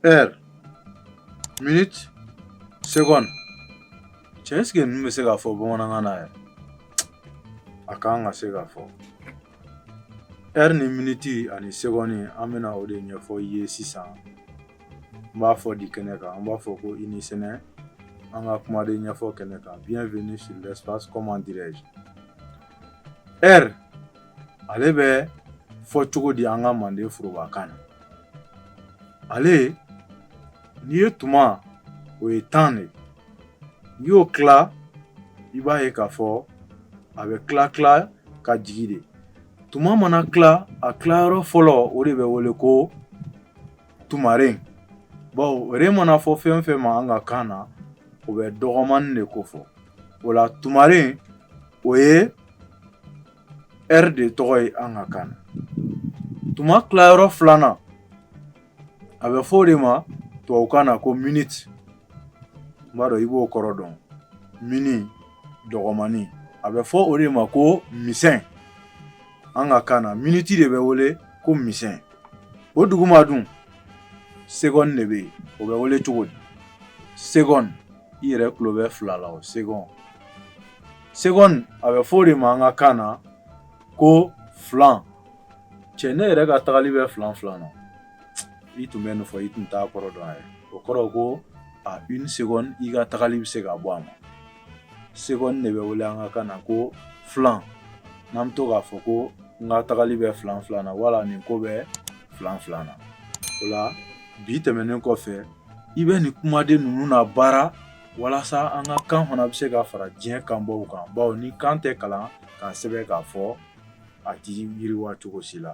Heure. Minute. Seconde. Cɛ ɛseke ninnu bɛ se ka fɔ bamanankan na yɛrɛ a kan ka se ka fɔ ɛri ni miniti ani segɔni an bɛna o de ɲɛfɔ i ye sisan n b'a fɔ di kɛnɛ kan an b'a fɔ ko i ni sɛnɛ an ka kumaden ɲɛfɔ kɛnɛ kan bienvenue sur l'espace comment dirais-je ɛri ale bɛ fɔ cogo di an ka manden forobakan na ale n'i ye tuma o ye temps de n'i y'o tila i b'a ye k'a fɔ a bɛ tila tila ka jigin de tuma mana tila a tilayɔrɔ fɔlɔ o de bɛ wele ko tumaren bawo ren mana fɔ fɛn fɛn ma an ka kan na o bɛ dɔgɔmani de kofɔ o la tumaren o ye ɛri de tɔgɔ ye an ka kan na tuma tilayɔrɔ filanan a bɛ fɔ o de ma tubabu kan na ko miniti n b'a dɔn i b'o kɔrɔ dɔn mini dɔgɔmani a bɛ fɔ o de ma ko misɛn an ka kan na miniti de bɛ wele ko misɛn o duguma dun segɔni de bɛ yen o bɛ wele cogo di segɔni i yɛrɛ tulo bɛ fila la segɔni Segɔni a bɛ fɔ o de ma an ka kan na ko filan cɛ ne yɛrɛ ka tagali bɛ filan filan na i tun bɛ nin fɔ i tun t'a kɔrɔ dɔn a ye o kɔrɔ ko à une seconde i ka tagali bɛ se ka bɔ a ma seconde de bɛ wele an ka kan na ko filan n'an bɛ to k'a fɔ ko n ka tagali bɛ filan filan na wala nin ko bɛ filan filan na o la bi tɛmɛnen kɔfɛ i bɛ nin kumaden ninnu labaara walasa an ka kan fana bɛ se ka fara diɲɛ kanbaw kan bawo ni kan tɛ kalan k'a sɛbɛn k'a fɔ a tɛ yiriwa cogo si la